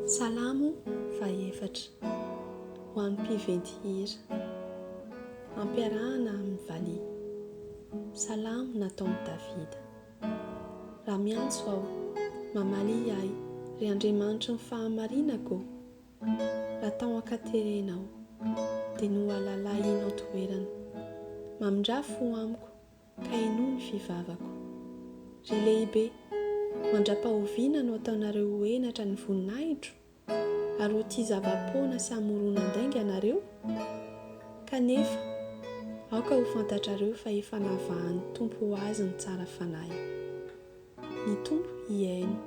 Salamo fahefatra. Ho an'ny mpiventy hira. Ampiarahana amin'ny valiha. Salamo nataon'i Davida. Raha miantso aho, mamalia ahy, ry Andriamanitry ny fahamarinako, raha tao an-katerena aho, dia nohalalahinao toerana. Mamindrà fo amiko, Ka henoy ny fivavako. Ry Lehibe, mandra-pahoviana no ataonareo ho henatra ny voninahitro? Ary ho tia zava-poana sy hamoron'andainga ianareo? Kanefa, aoka ho fantatrareo fa efa navahan'ny Tompo ho Azy ny tsara fanahy. Ny Tompo hihaino,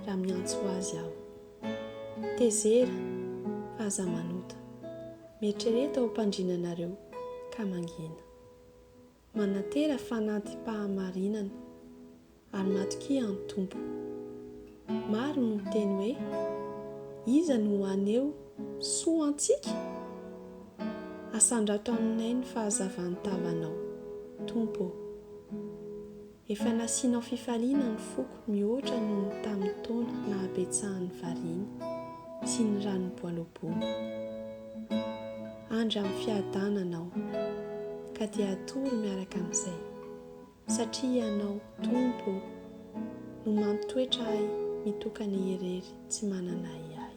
raha miantso Azy aho. Tezera, fa aza manota. Mieritrereta ho mpandrinanareo, ka mangina. Manantena fanantim-pahamarinana, ary matokia an'ny Tompo. Maro no miteny hoe, Iza no haneho soa antsika? Asandrato aminay ny fahazavan-tavanao, Tompo ô. Efa nasianao fifaliana ny foko mihoatra noho ny tamin'ny taona nahabetsahan'ny variana sy ny ranom-boaloboana. Andry amin'ny fiadanana aho, ka dia hatory miaraka amin'izay, satria Ianao, Tompo ô, no mampitoetra ahy mitokana irery tsy manana ahiahy.